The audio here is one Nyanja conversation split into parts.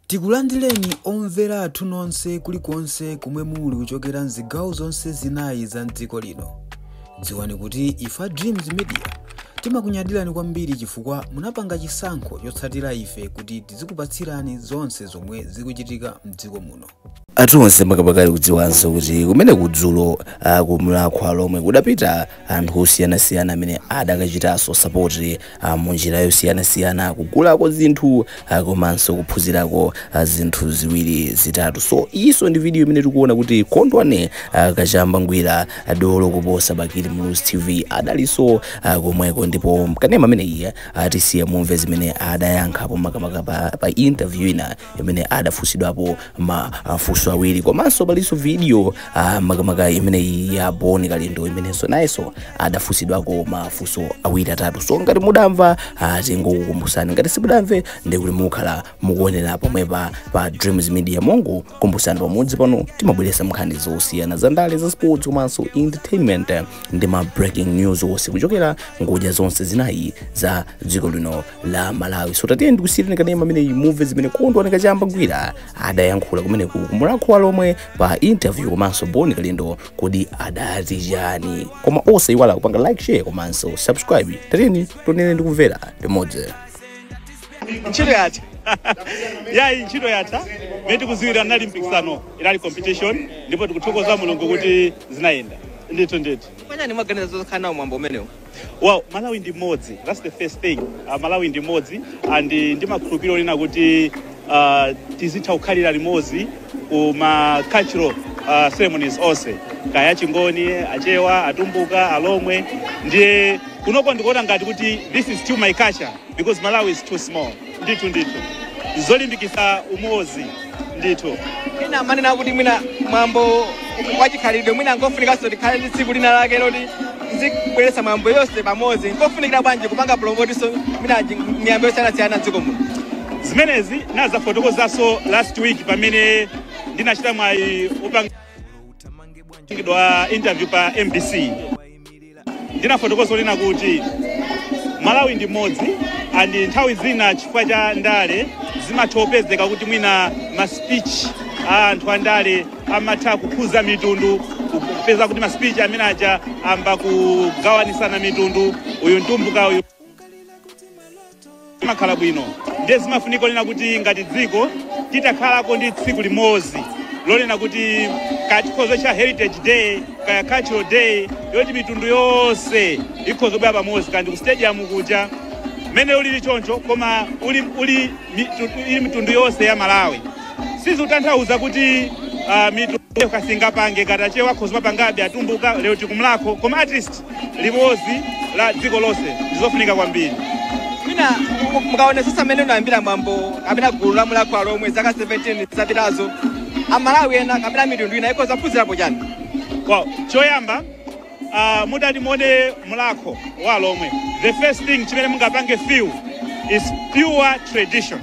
Tikulandireni omvera athu nonse kulikonse komwe muli kuchokera mzigawo zonse zinayi za mdziko lino. Dziwani kuti ife a Dreams Media timakunyadirani kwambiri chifukwa munapanga chisankho chotsatira ife kuti tizikupatsirani zonse zomwe zikuchitika mdziko muno. athu onse makamaka ali kudziwanso kuti kumene kudzulo ah, ku mulhako wa alhomwe kudapita anthu osiyanasiyana amene adakachitanso sapoti ah, mu njira yosiyanasiyana kugulako zinthu ah, komanso kuphunzirako ah, zinthu ziwiri zitatu so iyinso ndi video imene tikuona kuti kondwani ah, kachamba ngwira ah, dolo kuposa bakili muluzi tv adalinso ah, komweko ndipo kanema amene iye atisiya mumve zimene adayankhapo makamaka pa, pa interview ina imene adafunsidwapo mafunso awiri komanso palinso video uh, makamaka imeneyi ya bon kalindo imenenso nayenso adafunsidwako mafunso awiri atatu so ngati mudamva uh, tingokukumbusani ngati simudamve ndikuti mukhala mukuonera pomwepa pa dreams media mongo kumbusani pamudzi pano timabweresa nkhani zosiyana za ndale za sports komanso entertainment ndi ma breaking news onse kuchokera ngodya zonse zinayi za dziko lino la malawi so tatiyeni ndikusiyireni kanema amene mumve zimene kondwani kachamba ngwira adayankhula kumeneku ku mulhako wa alhomwe pa interview komanso bon kalindo kodi adati chani koma osaiwala kupanga like share komanso subscribe tatiyeni tionere ndikumvera limodzi ntchito yatha yayi ntchito yatha mene tikuziwira unali mpikisano inali competition ndipo tikuthokoza mulungu kuti zinayenda ndithu ndithu bwanji mwaganiza zokhala nawo mwambo umenewu Well, Malawi ndi mmodzi. That's the first thing. Uh, Malawi ndi mmodzi and uh, ndimakhulupirira kunena kuti uh, tizitha kukhalira limodzi ku ma cultural uh, ceremonies onse kaya achingoni achewa atumbuka alomwe ndiye kunoko ndikuona ngati kuti this is still my culture because malawi is too small ndithu ndithu zolimbikitsa umozi ndithu ena amanena kuti mwina mwambo wachikhalidwe mwina nkofunikanso tikhale ndi tsiku lina lake loti zikubweretsa miyambo yonse pamodzi nkofunikira bwanji kupanga promote-nso mwina nji- miyambo yosiyanasiyana mdziko muno zimenezi ndazifotokozanso last week pamene ndinachita mwayi opangidwa interview pa mbc ndinafotokoza kunena kuti malawi ndi mmodzi and nthawi zina chifukwa cha ndale zimatha kupezeka kuti mwina ma speech a anthu a ndale amatha kukhuza mitundu kupeza kuti ma speech amene aja ayamba kugawanisana mitundu uyu ntumbuka uyu zimakhala bwino ndiye zimafunika onena kuti ngati dziko titakhalako ndi tsiku limodzi lonena kuti kaya tikhoza tcha heritage day kaya cultural day yoti mitundu yonse ikhoza kubwera pamodzi kandi ku stadium kuja mmene ulili choncho koma uli, uli mitu- ili mitundu yonse ya malawi sizikutanthauza kuti uh, mitundu kasingapange ngati achewa akhoza kupangabe atumbuka lero tikumlakho koma at least limodzi la dziko lonse ndi zofunika kwambiri mwina mukaonetsetsa mmene unayambira mwambo kapena gulu la mulakho wa alomwe zaka 17 zapitazo amalawi ena kapena mitundu ina ikhoza kuphunzirapo chani wow. choyamba uh, mutati muone mlakho wa alomwe the first thing chimene mungapange feel is pure tradition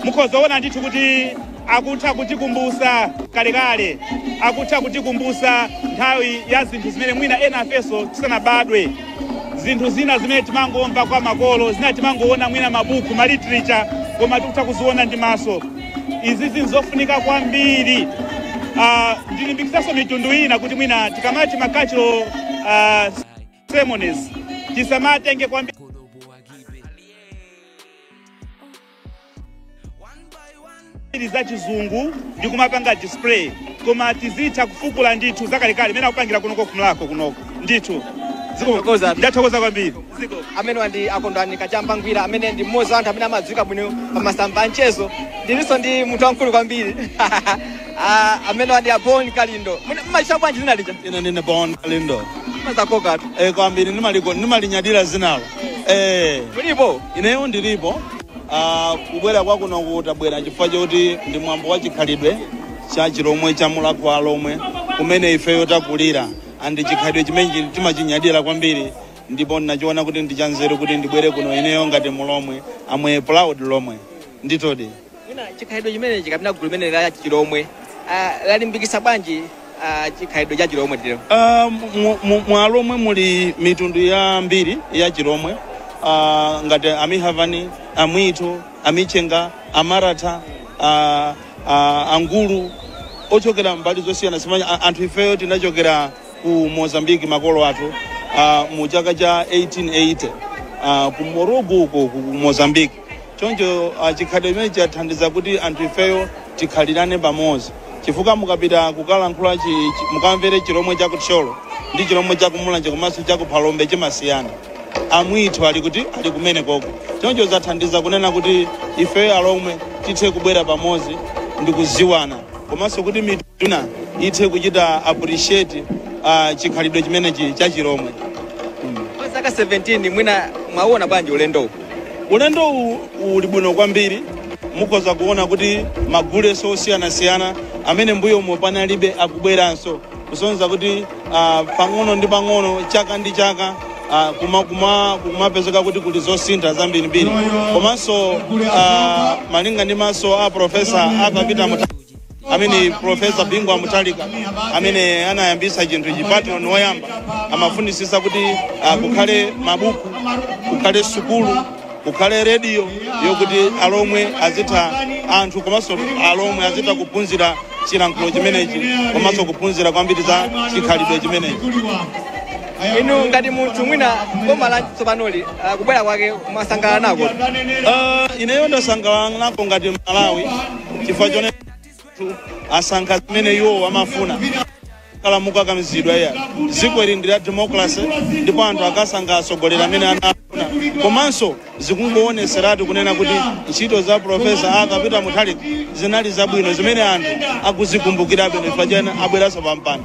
mukhoza kuona ndithu kuti akutha kutikumbusa kalekale akutha kutikumbusa nthawi ya zinthu zimene mwina ena afeso tisanabadwe zinthu zina zimene timangomva kwa makolo zina timangoona mwina mabuku ma literature koma tikutha kuziona ndi maso izi zinthu zofunika kwambiri Ah, ndilimbikitsanso mitundu ina kuti mwina tikamati ma cultural ah, ceremonies tisamatenge kwambiri ili za chizungu ndi kumapanga display koma tizitha kufukula ndithu zakalekale mmene akupangira kunoko kumlakho kunoko ndithu Ziko- Thokoza. ndathokoza kwambiri amenewa ndi a kondwani kachamba ngwira amene ndi mmodzi wa anthu amene amadziwika bwino pa masamba a mchezo ndilinso ndi munthu wamkulu kwambiri Ah, amenewa ndi a Bon Kalindo. Mwina mmalitcha bwanji dzina lija. ine ndine bon kalindo Mazakoka tu. eh, kwambiri nimaliko- nimalinyadira dzinalo eh, Mulipo. ineyo ndilipo ah, kubwera kwa kunoko tabwera chifukwa choti ndi mwambo wa chikhalidwe cha chilomwe cha mulakho wa alomwe kumene ifeyo takulira and chikhalidwe chimene chili- timachinyadira kwambiri ndipo ndinachiona kuti ndi chanzeru kuti ndibwere kuno ineyo ngati mulomwe I'm a proud lomwe ndithudi Mwina chikhalidwe chimenechi kapena gulu limeneli la chilomwe ah, lalimbikitsa bwanji ah, chikhalidwe cha chilomwe tero Ah, mu- mu- mwa alomwe muli mitundu yambiri ya chilomwe Ah, ngati amihavani amwito amichenga amaratha ah, ah, angulu ochokera mbali zosiyanasiyana a- anthu ifeyo tinachokera ku mozambiki makolo athu ah, mu chaka cha 1880 ah, ku morogo uko ku mozambiki Choncho ah, chikhalidwe chimenechi chathandiza kuti anthu ifeyo tikhalirane pamodzi chifukwa mukapita kukalankhula chi, chi, mukamvere chilomwe cha kuthyolo ndi chilomwe cha kumulanje komanso cha kuphalombe chimasiyana amwithu ali kuti ali kumene koko choncho zathandiza kunena kuti ifeyo alomwe tithe kubwera pamodzi ndi kudziwana komanso kuti mitundu ina ithe kuchita appreciate ah, chikhalidwe chimenechi cha chilomwe Kwa zaka 17 mwina mwaona bwanji ulendowu? Ulendo uwu uli bwino kwambiri. Mukhoza kuona kuti magule osiyanasiyana amene mbuyomo panalibe akubweranso kusonyeza kuti ah, pang'ono ndi pang'ono chaka ndi chaka ah, kuma- kuma- kumapezeka kuti kuli zosintha zambirimbiri komanso ah, malinga ndi maso a profesa Arthur Peter mu amene profesa bingu wa mutharika amene anayambisa chinthuchi patron woyamba amafunitsitsa kuti uh, kukhale mabuku kukhale sukulu kukhale rediyo yokuti alomwe azitha anthu komanso alomwe azitha kuphunzira chilankhulo chimenechi komanso kuphunzira kwambiri za chikhalidwe chimenechi inu ngati munthu mwina boma la tsopanoli ah, kubwera kwake mwasangalala nako Uh, ineyo ndasangalala nako ngati mmalawi chifukwa chonena anthu asankha zimene iwo amafuna palibe kukakamizidwa ayi dziko ili ndi la democracy ndipo anthu akasankha atsogoleri amene anafuna komanso zikungowoneseratu kunena kuti ntchito za profesa arthur peter mutharika zinali zabwino zimene anthu akuzikumbukirabe chifukwa chake abweranso pampando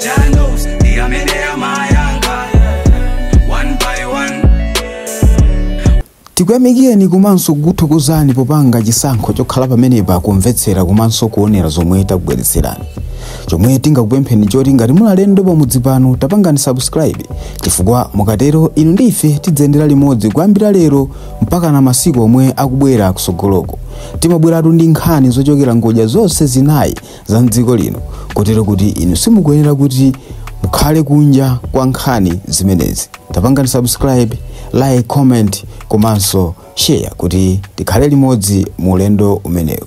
Janos, the Amedea Mayanga, one by one. tikuyamikireni komanso kukuthokozani popanga chisankho chokhala pamenepa kumvetsera komanso kuonera zomwe takubweretserani chomwe tingakupempheni choti ngati muli alendo pamudzi pano tapangani subscribe chifukwa mukatero inu ndi ife tidzayendera limodzi kuyambira lero mpakana masiku omwe akubwera kusogoloko timabweratu ndi nkhani zochokera ngodya zonse zinayi za mdziko lino kotero kuti inu simukuyenera kuti mukhale kunja kwa nkhani zimenezi tapangani subscribe like comment komanso share kuti tikhale limodzi mu ulendo umenewu